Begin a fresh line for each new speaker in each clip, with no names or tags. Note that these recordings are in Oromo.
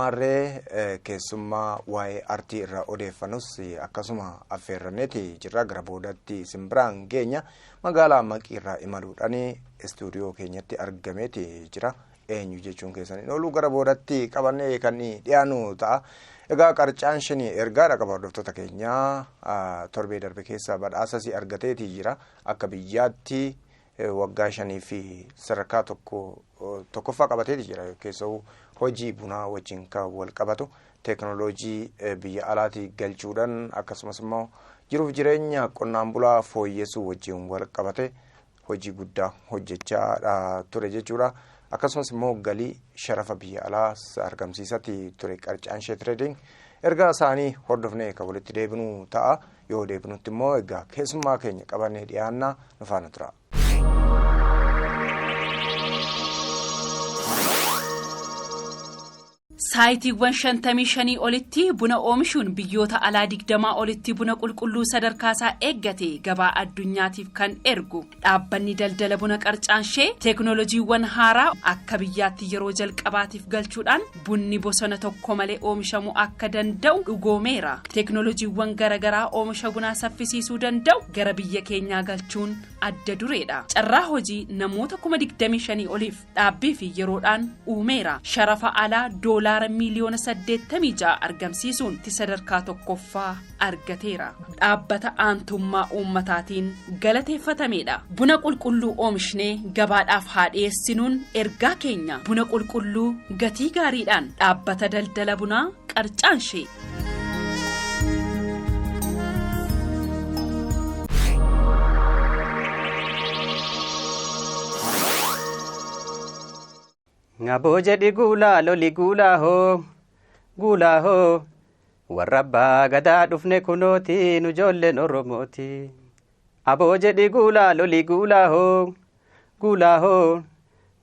Maarree keessummaa waa'ee artii irraa odeeffannus akkasuma affeerranneeti jirra gara boodatti isin biraan geenya magaalaa maqii irraa imaluudhaan istuudiyoo keenyatti argameeti jira eenyu jechuun keessan hin oolu gara boodatti qabannee kan dhiyaanu ta'a. Egaa qarcaan shini ergaa dhaqaba hordoftoota keenyaa torbee darbe keessa badhaasas argateeti jira akka biyyaatti waggaa shanii fi sadarkaa tokko tokkoffaa qabateeti jira keessa'uu hojii bunaa wajjin kan wal qabatu teeknooloojii biyya alaatii galchuudhaan akkasumas immoo jiruuf jireenya qonnaan bulaa fooyyessuu wajjin wal qabate hojii guddaa hojjechaa ture jechuudha. Akkasumas immoo galii sharafa biyya alaa argamsiisatti ture qarcaan ishee tireediing ergaa isaanii hordofnee kan walitti deebinu ta'a. yoo deebinutti immoo egaa keessummaa keenya qabannee dhiyaannaa nu faana tura.
saayitiiwwan shantamii shanii olitti buna oomishuun biyyoota alaa digdamaa olitti buna qulqulluu sadarkaasaa eeggate gabaa addunyaatiif kan ergu Dhaabbanni daldala buna qarcaanshee teeknoolojiiwwan haaraa akka biyyaatti yeroo jalqabaatiif galchuudhaan bunni bosona tokko malee oomishamuu akka danda'u dhugoomeera. Teeknoolojiiwwan garagaraa oomisha bunaa saffisiisuu danda'u gara biyya keenyaa galchuun adda dureedha. Carraa hojii namoota kuma 25 oliif dhaabbii fi yeroodhaan uumeera. Sharafa alaa doolaara miiliyoona 86 argamsiisuun ti sadarkaa tokkoffaa. argateera. Dhaabbata aantummaa uummataatiin galateeffatameedha. Buna qulqulluu oomishnee gabaadhaaf haa dhiyeessinuun ergaa keenya buna qulqulluu gatii gaariidhaan dhaabbata daldala bunaa qarcaanshee.
Ngaboo jedhi guulaa loli guulaa hoo guulaa hoo warra abbaa gadaa dhufne kunooti nu ijoolleen oromooti. Aboo jedhi guulaa loli guulaa hoo guulaa hoo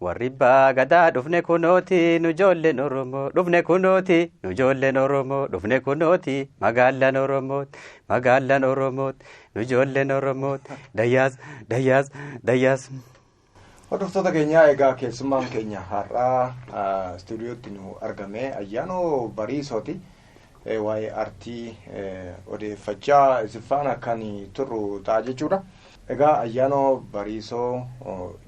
warri abbaa gadaa dhufne kunooti nu ijoolleen oromoo dhufne kunooti nu ijoolleen oromoo dhufne kunooti magaalaan oromoot magaalaan oromoot nu ijoolleen oromoot dayyaas dayyaas dayyaas. Hordoftoota
keenyaa egaa keessummaan keenya har'aa istuudiyootti nu argame ayyaanoo bariisooti. Waa'ee artii odeeffachaa isiffaan akkan turru ta'a jechuudha. Egaa ayyaanoo bariisoo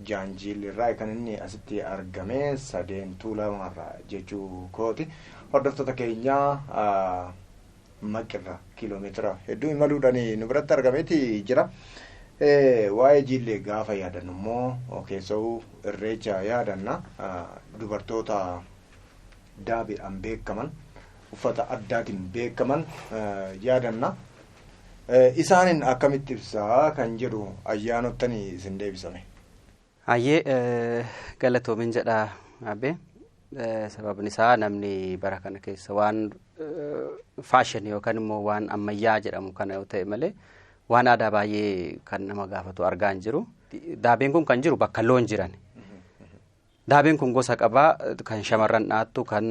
jaanjiilirraa kan inni asitti argame sadeen tuulamarraa jechuu kooti. Hordoftoota keenyaa Maqqirraa kiiloomeetira hedduu imaluudhaan nu biratti argameeti jira. Waa'ee jiillee gaafa yaadannu immoo keessa'uu irreecha yaadanna dubartoota daabeedhaan beekaman uffata addaatiin beekaman yaadanna. Isaaniin akkamitti ibsaa kan jedhu ayyaanottanii isin deebisame. Hayyee
galatoomin jedha abbee sababni isaa namni bara kana keessa waan faashin yookaan immoo waan ammayyaa jedhamu kana yoo ta'e malee waan aadaa baay'ee kan nama gaafatu argaa hin jiru. Daabeen kun kan jiru bakka loon jiran. Daabeen kun gosa qabaa kan shamarran dhaattu kan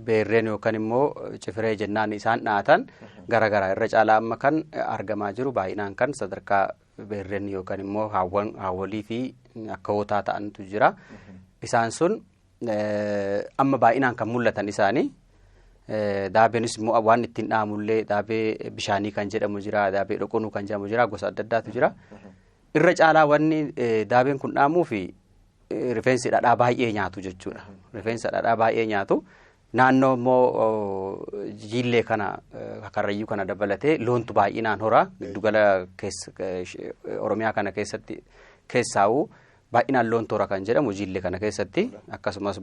beerreen yookaan immoo cifiree jennaan isaan dhaatan garaagaraa irra caalaa amma kan argamaa jiru baay'inaan kan sadarkaa beerren yookaan immoo haawwan haawwolii fi akkawootaa ta'antu jira. Isaan sun amma baay'inaan kan mul'atan isaanii daabeenis immoo waan ittiin dhahamullee daabee bishaanii kan jedhamu jira daabee dhoqonuu kan jedhamu jira gosa adda addaatu jira. Irra caalaa wanni daabeen kun dhahamuu fi rifeensi dhadhaa baay'ee nyaatu jechuudha. Rifeensa dhadhaa baay'ee nyaatu. Naannoo immoo jiillee kana karrayyuu kana dabalatee loontu baay'inaan horaa giddugala Oromiyaa kana keessatti keessaa'u baay'inaan loontu hora kan jedhamu jiillee kana keessatti akkasumas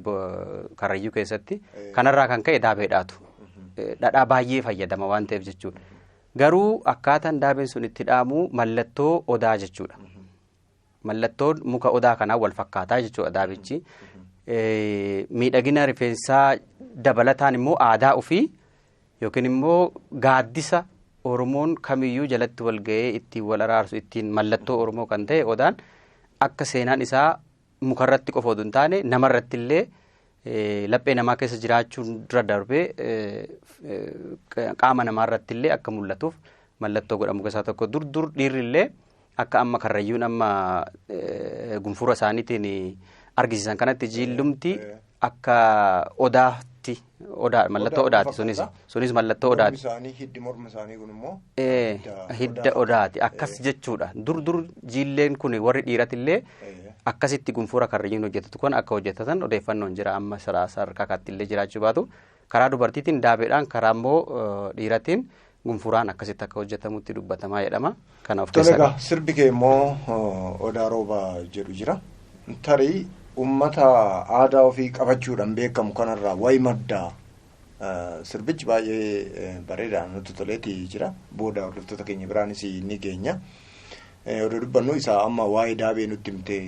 karrayyuu keessatti kanarraa kan ka'e daabeedhaatu dhadhaa baay'ee fayyadama waan ta'eef jechuudha. Garuu akkaataan daabeen sun itti dhaamu mallattoo odaa jechuudha. Mallattoon muka odaa kanaa wal fakkaataa jechuudha daabichi. Miidhagina rifeensaa dabalataan immoo aadaa ofii yookiin immoo gaaddisa Oromoon kamiyyuu jalatti wal ga'ee ittiin wal araarsu ittiin mallattoo Oromoo kan ta'e odaan akka seenaan isaa mukarratti qofa oduu hin taane namarratti illee laphee namaa keessa jiraachuun dura darbee qaama namaarratti illee akka mul'atuuf mallattoo godhamu keessaa tokko dur dur dhiirri illee Akka amma karrayyuun amma gunfura isaaniitiin argisiisan kanatti jiillumti akka odaatti odaa mallattoo odaati sunis sunis mallattoo odaati. isaanii hiddi morma isaanii
kun immoo Ee, hidda
odaati akkas jechuudha dur dur jiilleen kun warri dhiiratillee akkasitti gunfura karrayyuun hojjetatu kun akka hojjetatan odeeffannoon jira amma sadarkaa kaattillee jiraachuu baatu Karaa dubartiitiin daabeedhaan karaa immoo dhiiratiin gunfuraan akkasitti akka hojjetamutti dubbatamaa jedhama. Kana of keessaa qaba. Sirbi kee immoo
odaa rooba jedhu jira. Tarii uummata aadaa ofii qabachuudhaan beekamu kanarraa wayi madda sirbichi baay'ee bareedaa nutti toleeti jira. Booda hordoftoota keenya biraanis ni geenya. Odoo dubbannu isaa amma waa'ee daabee nutti himte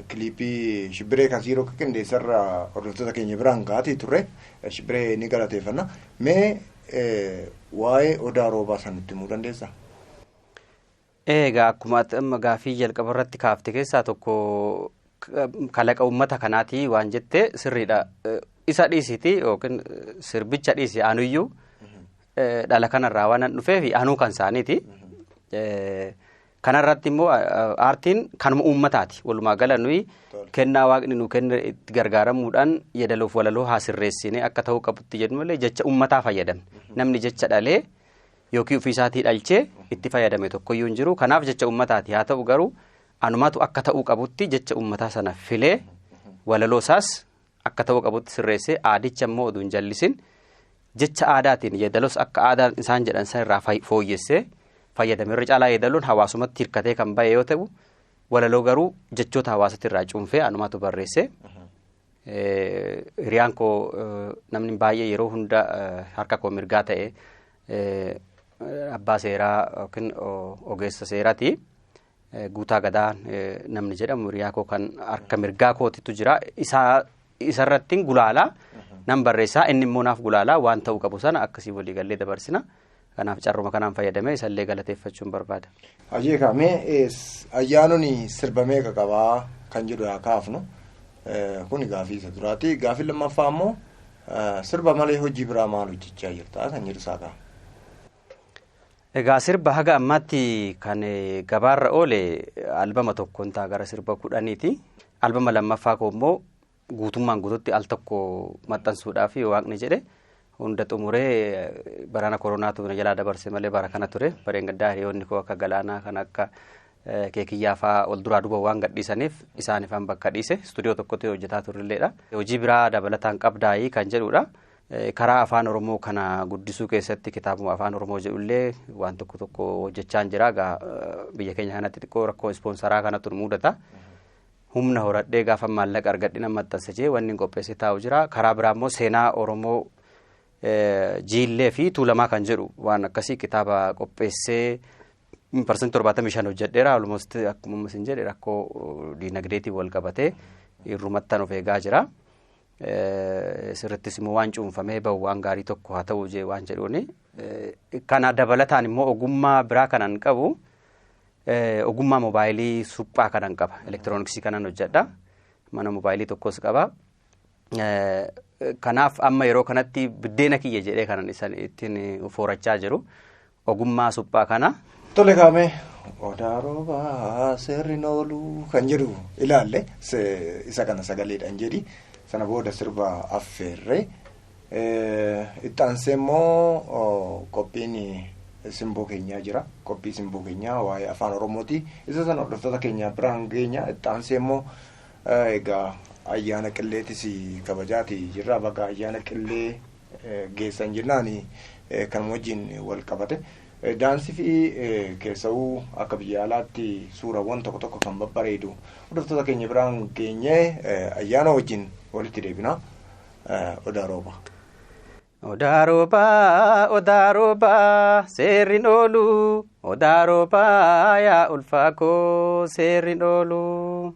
kiliipii shibbiree kan siiroo qindeessarra hordoftoota keenya biraan ga'atii turre shibbiree ni galateeffanna. Mee waa'ee odaa roobaa san nutti himuu dandeessaa?
Egaa akkuma ati amma gaaffii jalqaba irratti kaafte keessaa tokko kalaqa uummata kanaatii waan jettee sirriidha. Isa dhiisiti yookiin sirbicha dhiisi anuyyuu dhala kanarraa waan an dhufeef anuu kan isaaniiti. Kanarratti immoo aartiin kanuma uummataati. Walumaa gala nuyi kennaa waaqni nu kenne itti gargaaramuudhaan yeedaloof walaloo haa sirreessine akka ta'uu qabutti jedhu malee jecha uummataa fayyadamne. Namni jecha dhalee yookiin ofiisaatii dhalchee itti fayyadame tokkoyyuu hin jiru. Kanaaf jecha uummataati. Haa ta'u garuu anumatu akka ta'uu qabutti jecha uummataa sana filee walaloo isaas akka ta'uu qabutti sirreessee aadicha immoo oduu hin jallisin jecha aadaatiin yeedaloos akka aadaa isaan jedhan san irraa fay- fooyyessee fayyadame irra caalaa yeedaloon hawaasumatti hirkatee kan ba'e yoo ta'u walaloo garuu jechoota hawaasatti irraa cuunfee anumatu barreessee Eh, hiriyaan koo eh, namni baay'ee yeroo hunda eh, harka koo mirgaa ta'e eh, abbaa seeraa yookiin o- ogeessa seeraati. Guutaa Gadaa namni jedhamu hiriyaa koo kan harka mirgaa kootitu jira. Isaa isarrattiin gulaalaa nan barreessaa inni immoo naaf gulaalaa waan ta'uu qabu sana akkasii walii gallee dabarsina. Kanaaf carruma kanaan fayyadamee isallee galateeffachuun barbaada. Hayyee kaamee
ayyaanonni sirba meeqa qabaa kan jedhu haa kaafnu. Kuni gaafii isa duraati. Gaafii lammaffaa immoo sirba malee hojii biraa maal hojjechaa jirta kan jedhu isaa kaafna. Egaa
sirba haga ammaatti kan gabaarra oole albama tokkoon ta'a gara sirba kudhaniiti. Albama lammaffaa koo immoo guutummaan guututti al tokko maxxansuudhaaf waaqni jedhe hunda xumuree barana koronaatu na jalaa dabarse malee bara kana ture. Bareen gaddaa hiriyoonni koo akka galaanaa kan akka keekiyyaa fa'aa ol duraa duuba waan gadhiisaniif isaaniifan bakka dhiise istuudiyoo tokkotti hojjetaa turrilleedha. Hojii biraa dabalataan qabdaayii kan jedhudha. Karaa Afaan Oromoo kana guddisuu keessatti kitaabuma Afaan Oromoo jedhullee waan tokko tokko hojjechaan jira. Egaa biyya keenya kanatti xiqqoo rakkoo ispoonsaraa kanatu nu mudata. Humna horadhee gaafa maallaqa argadhina maxxansa jee wanni qopheessee taa'u jira. Karaa biraa immoo seenaa Oromoo jiillee fi tuulamaa kan jedhu waan akkasii kitaaba qopheessee parsantii torbaatamii shan hojjedheera. Almost akkuma isin jedhe rakkoo diinagdeetiin wal qabatee irrumattan of eegaa jira. Sirrittis immoo waan cuunfamee bahu waan gaarii tokko haa ta'u jee waan jedhuuni. Kana dabalataan immoo ogummaa biraa kanan qabu ogummaa moobaayilii suphaa kanan qaba. Elektirooniksii kanan hojjedha. Mana moobaayilii tokkos qaba. Kanaaf amma yeroo kanatti biddeena kiyya jedhee kanan isaan ittiin foorachaa jiru. ogummaa suphaa kana. Tole kaamee
odaa roobaa seerri nooluu kan jedhu ilaalle isa kana sagaleedhaan jedhi sana booda sirba affeerree itti aansee immoo qophiin simboo keenyaa jira qophii simboo keenyaa waa'ee afaan oromooti isa sana hordoftoota keenyaa biraan keenya itti aansee immoo egaa ayyaana qilleetis kabajaati jirra baga ayyaana qillee geessan jennaan kan wajjin wal qabate daansii fi keessa'uu akka biyya alaatti suurawwan tokko tokko kan babbareedu hordoftoota keenya biraan geenye ayyaana wajjin walitti deebina odaa rooba. Odaa
roobaa, odaa roobaa, seerriin oolu. Odaa roobaa, yaa ulfaa koo, seerriin oolu.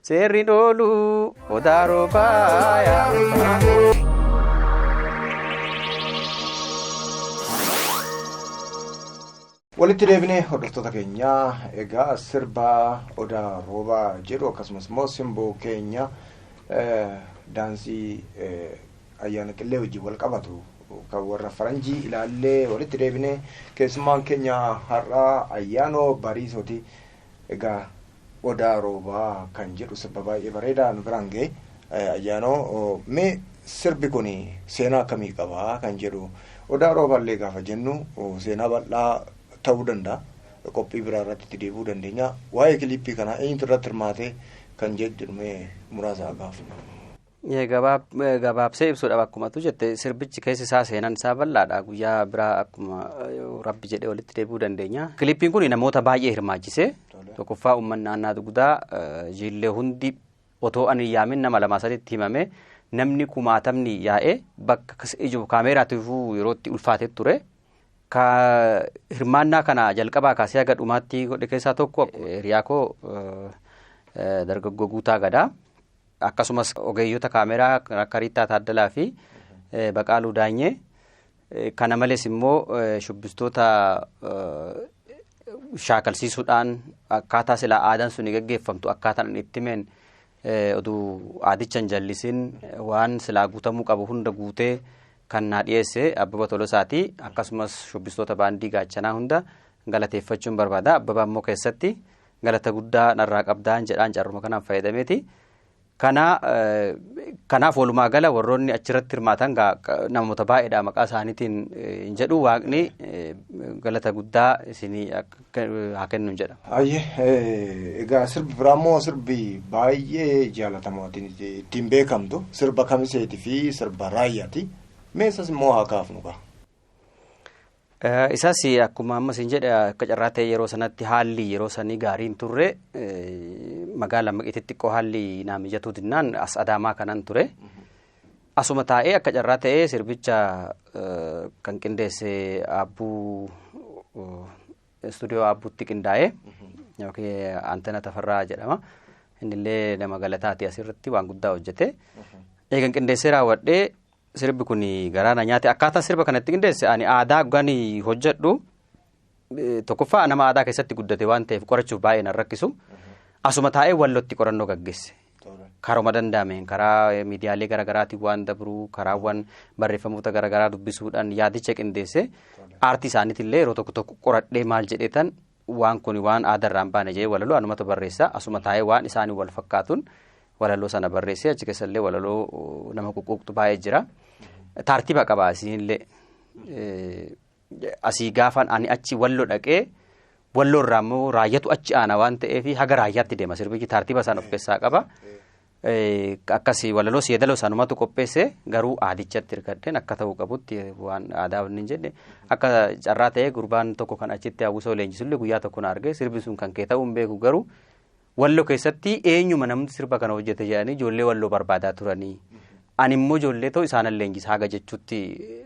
Seerri dhoolu odaa roobaa yaa ulfaa.
walitti deebinee hordoftoota keenya egaa sirba odaa roobaa jedhu akkasumas immoo simboo keenya eh, daansii eh, ayyaana qillee wajjin wal qabatu kan warra faranjii ilaallee walitti deebinee keessummaan keenya har'aa ayyaanoo bariisooti egaa Odaa Roobaa kan jedhu sirba baay'ee bareedaa nu biraan ga'e. Ayyaanoo mee sirbi kun seenaa akkamii qaba kan jedhu Odaa Roobaa illee gaafa jennu seenaa bal'aa ta'uu danda'a. Qophii biraa irratti itti deebi'uu dandeenya. Waa'ee kiliippii kanaa eenyutu irratti hirmaate kan jedhu mee muraasa haa kaafnu. Gabaabsee
ibsuudhaaf akkuma tu jette sirbichi keessi isaa seenan isaa bal'aadha guyyaa biraa akkuma rabbi jedhee walitti deebi'uu dandeenya. Kilippiin kun namoota baay'ee hirmaachise tokkoffaa uummanni naannaa dugdaa jiillee hundi otoo ani yaamin nama lama sadiitti himame namni kumaatamni yaa'ee bakka ijoo kaameeraatti dhufuu yerootti ulfaatee ture. Ka hirmaannaa kana jalqabaa kaasee haga dhumaatti godhe keessaa tokko hiriyaa koo dargaggoo guutaa gadaa. akkasumas ogeeyyota kaameraa akka Riittaa Taaddalaa fi Baqaaluu Daanyee kana malees immoo shubbistoota shaakalsiisuudhaan akkaataa silaa aadaan suni gaggeeffamtu akkaataan itti himeen oduu aadicha hin jallisiin waan silaa guutamuu qabu hunda guutee kan naa dhiyeesse Abbaba Tolosaati akkasumas shubbistoota baandii gaachanaa hunda galateeffachuun barbaada Abbaba immoo keessatti galata guddaa narraa qabdaan jedhaan carruma kanaan fayyadameeti. Kana kanaaf walumaa gala warroonni achirratti hirmaatan namoota baay'eedha maqaa isaaniitiin hin jedhu waaqni galata guddaa isinii haa kennu jedha. Ayyee
egaa sirbi biraa immoo sirbi baay'ee jaalatamaa ittiin beekamtu sirba kamiseetii fi sirba raayyaati. Meesas immoo haa kaafnu gaa.
Isaas akkuma amma isin jedhe akka carraa ta'e yeroo sanatti haalli yeroo sanii gaarii hin turre magaala maqiitti xiqqoo haalli naa mijatuu dinnaan as adaamaa kanan ture. Asuma taa'ee akka carraa ta'ee sirbicha kan qindeesse aabbuu istuudiyoo aabbuutti qindaa'ee yookiin Antana Tafarraa jedhama. Innillee nama galataati asirratti waan guddaa hojjete. Eegan qindeessee raawwadhee Sirbi kun garaa na nyaate akkaataa sirba kana itti qindeesse ani aadaa gani hojjedhu tokkoffaa nama aadaa keessatti guddate waan ta'eef qorachuuf baay'ee na rakkisu asuma taa'ee wallootti qorannoo gaggeesse. Karuma danda'ameen karaa miidiyaalee garaagaraatiin waan dabruu karaawwan barreeffamoota garaagaraa dubbisuudhaan yaadicha qindeesse aartii isaaniitillee yeroo tokko tokko qoradhee maal jedheetan waan kun waan aadaarraan baane jedhee walaloo anumatu barreessa asuma taa'ee waan isaanii wal fakkaatuun walaloo sana barreessee achi keessa illee walaloo nama quqquuqtu baay'ee jira. Taartiba qaba asiin illee. Asii gaafaan ani achi wallo dhaqee walloo irraa immoo raayyatu achi aana waan ta'eef haga raayyaatti deema sirbichi taartiba isaan of keessaa qaba. Akkas walaloo seedaloo isaanumatu qopheesse garuu aadichatti hirkadheen akka ta'uu qabutti waan aadaa waliin jedhe akka carraa ta'ee gurbaan tokko kan achitti hawwisoo leenjisullee guyyaa tokko na argee sirbi sun kan kee ta'uu hin beeku garuu Wallo keessatti eenyuma namni sirba kana hojjete jedhanii ijoollee walloo barbaadaa turanii. Ani immoo ijoollee too isaanan leenjisaa haga jechuutti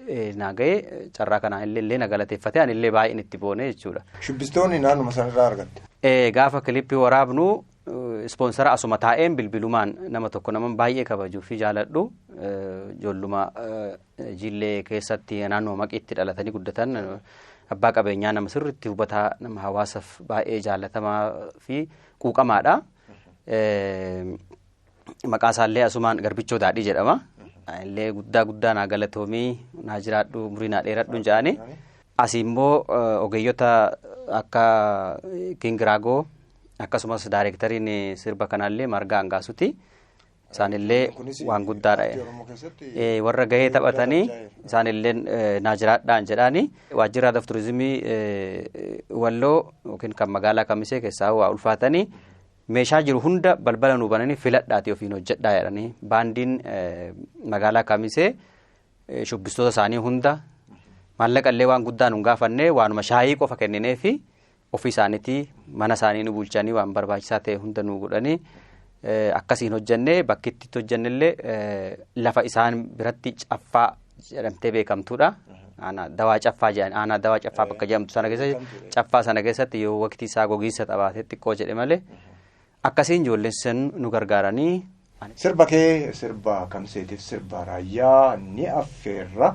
eh, naa ga'e carraa kanaan illee illee na galateeffate ani illee baay'een itti boone jechuudha. Shubbistoonni naannuma
sanarraa argatte. Eh, Gaafa kilippii
waraabnu eh, ispoonsara asuma taa'een bilbilumaan nama tokko nama baay'ee kabajuu fi jaaladhu eh, ijoolluma eh, Jillee keessatti naannoo maqiitti dhalatanii guddatan abbaa qabeenyaa nama sirriitti hubataa nama hawaasaaf baay'ee jaallatamaa fi quuqamaadha. Maqaa isaallee asumaan garbichoo daadhii jedhama. Illee guddaa guddaa naa galatoomii naa jiraadhu umurii naa dheeradhu jedhani. Asi immoo ogeeyyota akka Kingiraagoo akkasumas daayireektariin sirba kanaallee margaa hangaasuti. isaanillee waan guddaa dha. Warra gahee taphatanii isaanillee naa jiraadhaan jedhaani. Waajjirri Aadaa fi Turizimii Walloo yookiin kan magaalaa Kamisee keessaa waa ulfaatanii meeshaa jiru hunda balbala nuu bananii filadhaatii ofiin hojjedhaa jedhanii baandiin magaalaa Kamisee shubbistoota isaanii hunda maallaqa illee waan guddaa nun gaafannee waanuma shaayii qofa kenninee fi ofii isaaniitii mana isaanii nu bulchanii waan barbaachisaa ta'e hunda nu godhanii akkasiin hojjannee bakki itti hojjannellee lafa isaan biratti caffaa jedhamtee beekamtuudha. Aanaa dawaa caffaa jedhan aanaa dawaa caffaa bakka jedhamtu sana keessatti caffaa sana keessatti yoo waqtii isaa gogiinsa qabaatee xiqqoo jedhe malee akkasiin ijoolleen sun nu gargaaranii.
Sirba kee sirba kamseetiif
sirba
raayyaa ni affeerra